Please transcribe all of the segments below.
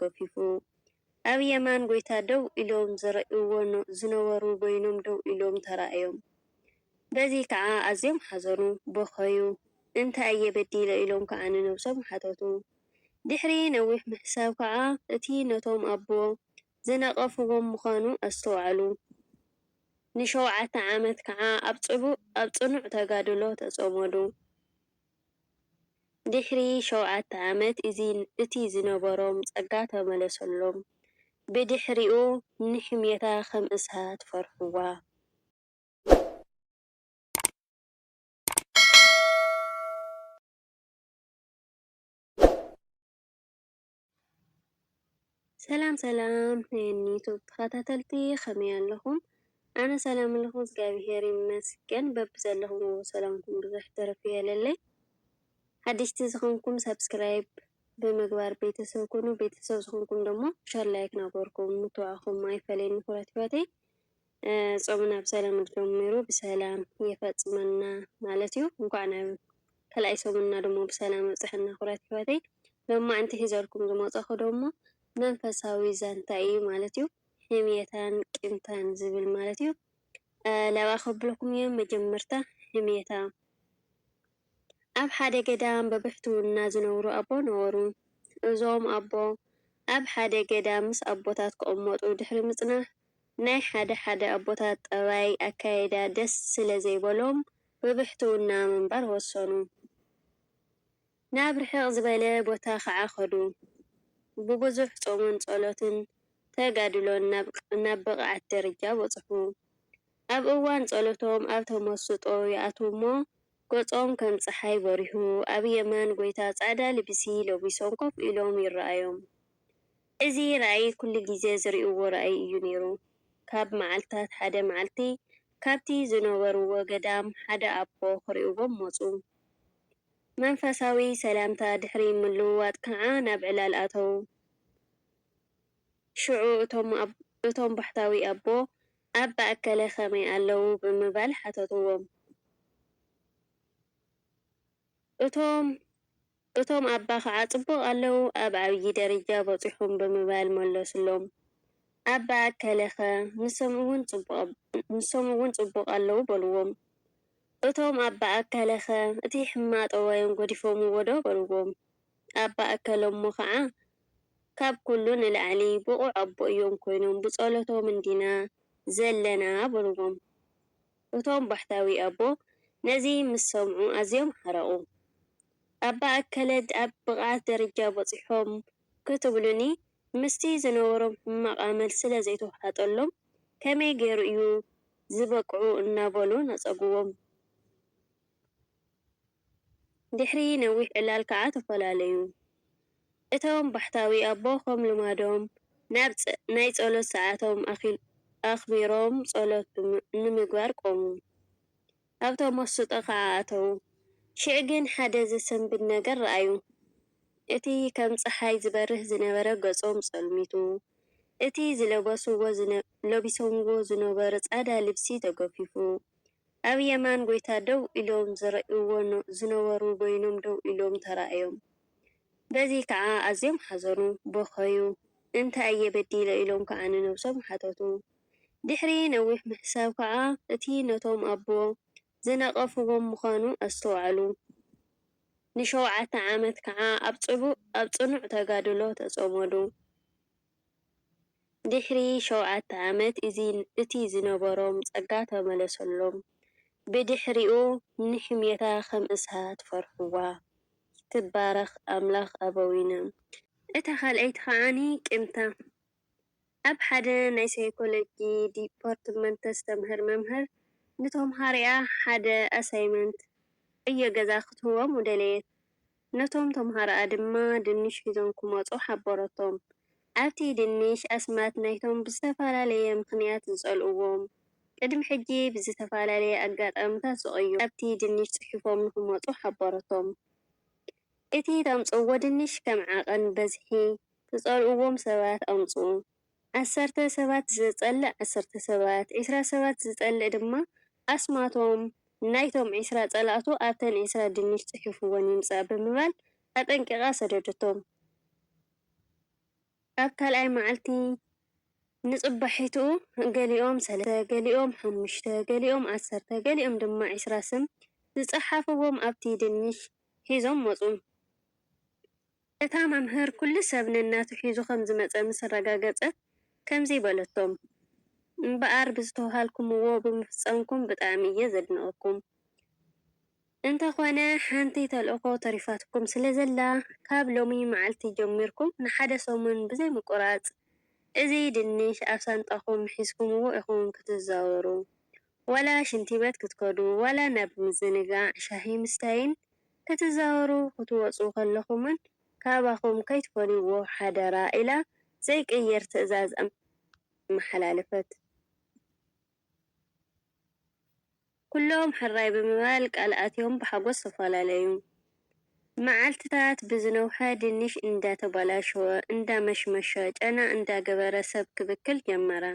ገፊፉ። ኣብ የማን ጐይታ ደው ኢሎም ዝርእይዎ ዝነበሩ በይኖም ደው ኢሎም ተራእዮም። በዚ ከኣ ኣዝዮም ሓዘኑ፣ በኸዩ። እንታይ እየ በዲለ? ኢሎም ከኣ ንነብሶም ሓተቱ። ድሕሪ ነዊሕ ምሕሳብ ከኣ እቲ ነቶም ኣቦ ዝነቐፍዎም ምዃኑ ኣስተውዓሉ። ንሸውዓተ ዓመት ከኣ ኣብ ጽኑዕ ተጋድሎ ተጸመዱ። ድሕሪ ሸውዓተ ዓመት እቲ ዝነበሮም ጸጋ ተመለሰሎም። ብድሕሪኡ ንሕምየታ ከም እሳት ፈርሑዋ። ሰላም ሰላም ናይ ዩቱብ ተከታተልቲ ከመይ ኣለኩም ኣነ ሰላም ኣለኩ እግዚኣብሔር ይመስገን በብዘለኩምዎ ሰላምኩም ብዝሕ ትርፍ ይበለለይ ሓደሽቲ ዝኮንኩም ሳብስክራይብ ብምግባር ቤተሰብ ኩኑ ቤተሰብ ዝኮንኩም ደሞ ሸር ላይክ ናበርኩም ምትብባዕኩም ኣይፈለየኒ ኩራት ሂወተይ ጾምና ብሰላም ጀሚሩ ብሰላም የፈጽመና ማለት እዩ። እንኳዕ ናብ ካልኣይ ሰሙንና ደሞ ብሰላም ኣብጸሐና ኩቡራት የሕዋተይ። ሎማዕንቲ ሒዘልኩም ዝመጸኹ ደሞ መንፈሳዊ ዛንታ እዩ ማለት እዩ። ሕምየታን ቂምታን ዝብል ማለት እዩ። ላብኣ ከብሉኹም እየ መጀመርታ ሕምየታ ኣብ ሓደ ገዳም ብብሕትውና ዝነብሩ ኣቦ ነበሩ። እዞም ኣቦ ኣብ ሓደ ገዳም ምስ ኣቦታት ክቕመጡ ድሕሪ ምጽናሕ፣ ናይ ሓደ ሓደ ኣቦታት ጠባይ፣ ኣካይዳ፣ ደስ ስለ ዘይበሎም ብብሕትውና ምንባር ወሰኑ። ናብ ርሕቕ ዝበለ ቦታ ኸዓ ከዱ። ብብዙሕ ጾምን ጸሎትን ተጋድሎን ናብ ብቕዓት ደረጃ በጽሑ። ኣብ እዋን ጸሎቶም ኣብ ተመስጦ ይኣትዉ እሞ ገጾም ከም ጸሓይ በሪሁ ኣብ የማን ጐይታ ጻዕዳ ልብሲ ለቢሶም ኮፍ ኢሎም ይረኣዮም። እዚ ራእይ ኩሉ ግዜ ዝርእይዎ ራእይ እዩ ነይሩ። ካብ መዓልታት ሓደ መዓልቲ ካብቲ ዝነበርዎ ገዳም ሓደ ኣቦ ክርእይዎም መጹ። መንፈሳዊ ሰላምታ ድሕሪ ምልውዋጥ ከኣ ናብ ዕላል ኣተዉ። ሽዑ እቶም እቶም ባሕታዊ ኣቦ ኣባ ኣከለ ከመይ ኣለዉ? ብምባል ሓተትዎም። እቶም እቶም ኣባ ኸዓ ጽቡቕ ኣለዉ፣ ኣብ ዓብዪ ደረጃ በጺሖም ብምባል መለሱሎም። ኣባ ኣከለኸ ንሶም'ውን ጽቡቕ ንሶም'ውን ጽቡቕ ኣለዉ በልዎም። እቶም ኣባ ኣከለኸ እቲ ሕማቕ ጠባዮም ገዲፎምዎ'ዶ? በልዎም። ኣባ እከለ እሞ ኸዓ ካብ ኩሉ ንላዕሊ ብቑዕ ኣቦ እዮም ኮይኖም ብፀሎቶም እንዲና ዘለና በልዎም። እቶም ባሕታዊ ኣቦ ነዚ ምስ ሰምዑ ኣዝዮም ሓረቑ። ኣባ እከለ ኣብ ብቕዓት ደረጃ በፂሖም ክትብሉኒ ምስቲ ዝነበሮም ሕማቕ ኣመል ስለ ዘይተውሓጠሎም ከመይ ገይሩ እዩ ዝበቅዑ እናበሉ ነፀግዎም። ድሕሪ ነዊሕ ዕላል ከኣ ተፈላለዩ። እቶም ባሕታዊ ኣቦ ከም ልማዶም ናብ ናይ ጸሎት ሰዓቶም ኣኽቢሮም ጸሎት ንምግባር ቆሙ። ኣብ ተመስጦ ከኣ ኣተዉ። ሽዕ ግን ሓደ ዘሰንብድ ነገር ረኣዩ። እቲ ከም ጸሓይ ዝበርህ ዝነበረ ገጾም ጸልሚቱ፣ እቲ ዝለበስዎ፣ ለቢሶምዎ፣ ዝነበሩ ጻዳ ልብሲ ተገፊፉ፣ ኣብ የማን ጐይታ ደው ኢሎም ዝርእይዎ ዝነበሩ በይኖም ደው ኢሎም ተራእዮም። በዚ ከኣ ኣዝዮም ሓዘኑ፣ በኸዩ፣ እንታይ እየ በዲለ ኢሎም ከኣ ንነብሶም ሓተቱ። ድሕሪ ነዊሕ ምሕሳብ ከኣ እቲ ነቶም ኣቦ ዝነቐፍዎም ምዃኑ ኣስተውዓሉ። ንሸውዓተ ዓመት ከኣ ኣብ ጽኑዕ ተጋድሎ ተጸመዱ። ድሕሪ ሸውዓተ ዓመት እቲ ዝነበሮም ጸጋ ተመለሰሎም። ብድሕሪኡ ንሕምየታ ኸም እሳት ፈርሕዋ። ይትባረኽ ኣምላኽ ኣበዊነ። እታ ኻልኣይቲ ኸኣ ቂምታ ኣብ ሓደ ናይ ሳይኮሎጂ ዲፓርትመንት ተስተምህር መምህር ንተምሃሮኣ ሓደ ኣሳይመንት፣ ዕዮ ገዛ፣ ክትህቦም ደለየት። ነቶም ተምሃሮኣ ድማ ድንሽ ሒዞም ክመጹ ሓበረቶም። ኣብቲ ድንሽ ኣስማት ናይቶም ብዝተፈላለየ ምኽንያት ዝጸልእዎም፣ ቅድሚ ሕጂ ብዝተፈላለየ ኣጋጣምታት ዝቐዩሩ፣ ኣብቲ ድንሽ ጽሒፎም ንኽመጹ ሓበረቶም። እቲ ተምጽእዎ ድንሽ ከም ዓቐን በዝሒ ትጸልእዎም ሰባት ኣምጽኡ። ዓሰርተ ሰባት ዝጸልእ ዓሰርተ ሰባት፣ ዕስራ ሰባት ዝጸልእ ድማ ኣስማቶም ናይቶም ዕስራ ጸላእቱ ኣብተን ዕስራ ድንሽ ጽሒፉወን ይምጻእ ብምባል ኣጠንቂቓ ሰደደቶም። ኣብ ካልኣይ መዓልቲ ንጽባሒቱ ገሊኦም ሰለስተ፣ ገሊኦም ሓሙሽተ፣ ገሊኦም ዓሰርተ፣ ገሊኦም ድማ ዕስራ ስም ዝጸሓፉዎም ኣብቲ ድንሽ ሒዞም መጹ። እታ መምህር ኩሉ ሰብ ነናቱ ሒዙ ከም ዝመጸ ምስ ኣረጋገጸት ከምዚ በለቶም፣ እምበኣር ብዝተዋሃልኩምዎ ብምፍጻምኩም ብጣዕሚ እየ ዘድንቐኩም። እንተኾነ ሓንቲ ተልእኾ ተሪፋትኩም ስለ ዘላ ካብ ሎሚ መዓልቲ ጀሚርኩም ንሓደ ሰሙን ብዘይ ምቁራጽ እዚ ድንሽ ኣብ ሳንጣኹም ሒዝኩምዎ ኢኹም ክትዛወሩ። ዋላ ሽንቲበት ክትከዱ ዋላ ናብ ምዝንጋዕ ሻሂ ምስታይን ክትዛወሩ ክትወጹ ከለኹምን ካባኹም ከይትፈልዩዎ ሓደራ ኢላ ዘይቅየር ትእዛዝ ኣመሓላለፈት። ኩሎም ሕራይ ብምባል ቃል ኣትዮም ብሓጎስ ተፈላለዩ። መዓልትታት ብዝነውሐ ድንሽ እንዳተባላሸወ እንዳመሽመሸ ጨና እንዳገበረ ሰብ ክብክል ጀመረ።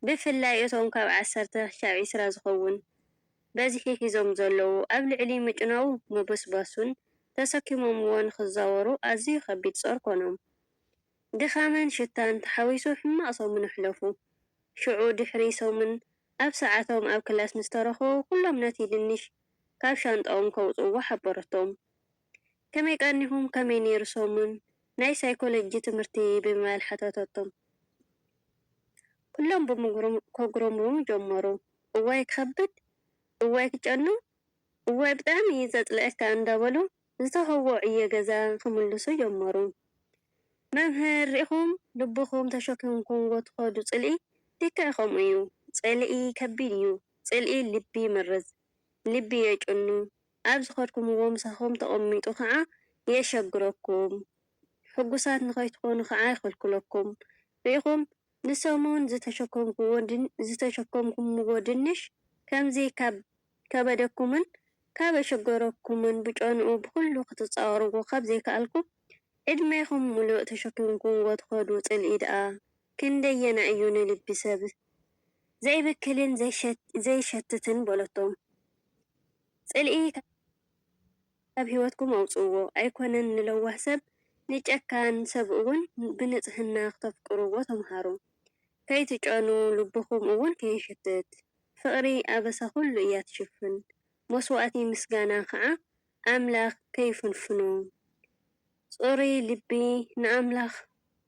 ብፍላይ እቶም ካብ ዓሰርተ ክሻብ ዕስራ ዝኸውን በዝሒ ሒዞም ዘለዉ፣ ኣብ ልዕሊ ምጭናዉ ምብስባሱን ተሰኪሞምዎ ንኽዛወሩ ኣዝዩ ከቢድ ጾር ኮኖም። ድኻምን ሽታን ተሓዊሱ ሕማቕ ሰሙን ኣሕለፉ። ሽዑ ድሕሪ ሰሙን ኣብ ሰዓቶም ኣብ ክላስ ምስ ተረኽቡ ኩሎም ነቲ ድንሽ ካብ ሻንጣኦም ከውጽእዎ ሓበረቶም። ከመይ ቀኒኹም ከመይ ኔሩ ሰሙን ናይ ሳይኮሎጂ ትምህርቲ ብምባል ሓተተቶም። ኩሎም ብምጉርም ከጉረምርሙ ጀመሩ። እዋይ ክኸብድ እዋይ ክጨኑ እዋይ ብጣዕሚ እዩ ዘጽልኣካ እንዳበሉ ዝተውህቦ ዕዮ ገዛ ክምልሱ ጀመሩ። መምህር ሪኢኹም ልብኹም ተሸኪምኩምዎ ትኸዱ ጽልኢ ልክዕ ከምኡ እዩ ጽልኢ ከቢድ እዩ ጽልኢ ልቢ ይመርዝ ልቢ የጭኑ ኣብ ዝኸድኩምዎ ምሳኹም ተቐሚጡ ከኣ የሸግረኩም፣ ሕጉሳት ንኸይትኾኑ ከኣ ይኸልክለኩም። ርኢኹም፣ ንሰሙን ዝተሸከምኩዎ ዝተሸከምኩምዎ ድንሽ ከምዚ ካብ ከበደኩምን ካብ ኣሸገረኩምን ብጨንኡ ብኹሉ ክትጻወርዎ ካብ ዘይከኣልኩም፣ ዕድሜኹም ምሉእ ተሸኪምኩምዎ ትኸዱ ጽልኢ ደኣ ክንደየናይ እዩ ንልቢ ሰብ ዘይብክልን ዘይሸትትን በለቶም። ጽልኢ ካብ ህይወትኩም ኣውጽእዎ። ኣይኮነን ንለዋህ ሰብ፣ ንጨካን ሰብ እውን ብንጽህና ክተፍቅርዎ ተምሃሩ። ከይትጨኑ፣ ልብኹም እውን ከይሕትት። ፍቕሪ ኣበሳ ኹሉ እያ ትሽፍን፣ መስዋእቲ ምስጋና ኸኣ ኣምላኽ ከይፍንፍኑ። ጽሩይ ልቢ ንኣምላኽ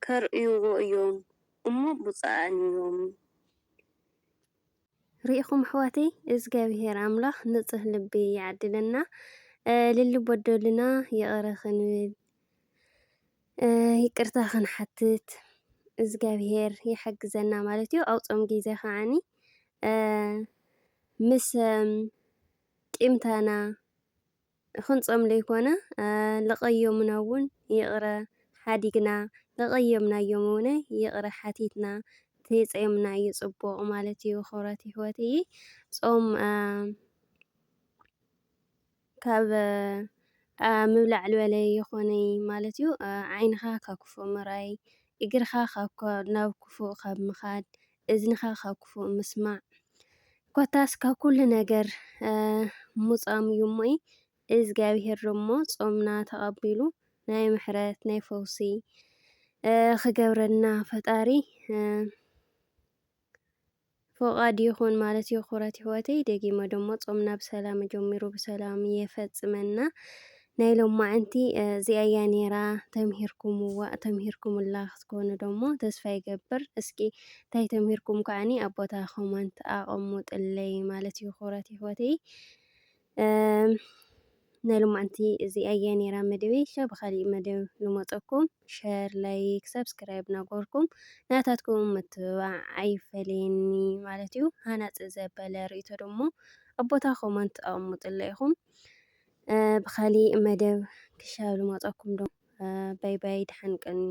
ከርእይዎ እዮም እሞ ብጹኣን እዮም። ሪኢኹም ኣሕዋተይ እዝጋቢሄር ኣምላኽ ንጹህ ልቢ ይዓድለና ልሊ ቦዶልና ይቕረ ክንብል ይቅርታ ክንሓትት እዝጋቢሄር ይሓግዘና ማለት እዩ ኣብ ጾም ግዜ ከዓኒ ምስ ቂምታና ክንጾም ለይኮነ ለቀዮምናውን ይቅረ ሓዲግና ለቀየምናዮም እውነ ይቅረ ሓቲትና ተይጸዮምና እዩ ጽቡቅ ማለት እዩ ክብረት ይሕወትይ ጾም ካብ ምብላዕ ልበለ የኮነይ ማለት እዩ ዓይንኻ ካብ ክፉእ ምርኣይ እግርኻ ካብ ናብ ክፉእ ካብ ምኻድ እዝንኻ ኻብ ክፉእ ምስማዕ፣ ኰታስ ካብ ኵሉ ነገር ምጹኣም እዩ እሞ እዩ። እግዚኣብሄር ደሞ ጾምና ተቐቢሉ ናይ ምሕረት፣ ናይ ፈውሲ ኽገብረልና ፈጣሪ ፈቓዱ ይኹን ማለት እዩ። ኽቡራት የሕዋተይ ደጊመ ደሞ ጾምና ብሰላም ጀሚሩ ብሰላም የፈጽመና። ናይ ሎማዕንቲ እዚኣ እያ ኔራ ተምሂርኩምዋ ተምሂርኩምላ ክትኮኑ ደሞ ተስፋ ይገብር እስኪ ታይ ተምሂርኩም ከዓኒ ኣብ ቦታ ኮመንት ኣቀሙጥለይ ማለት እዩ ክብረት ይሕወተይ ናይ ሎማዕንቲ እዚኣ እያ ኔራ መደበይ ሻ ብካሊእ መደብ ንመፀኩም ሸር ላይክ ሳብስክራይብ ናጎርኩም ናታትኩም ምትብባዕ ኣይፈለየኒ ማለት እዩ ሃናፂ ዘበለ ርእቶ ደሞ ኣብ ቦታ ኮመንት ኣቀሙጥለይ ኢኹም ብካሊእ መደብ ክሻብ ልመፀኩም ዶ ባይ ባይ ድሓን ቀንዩ።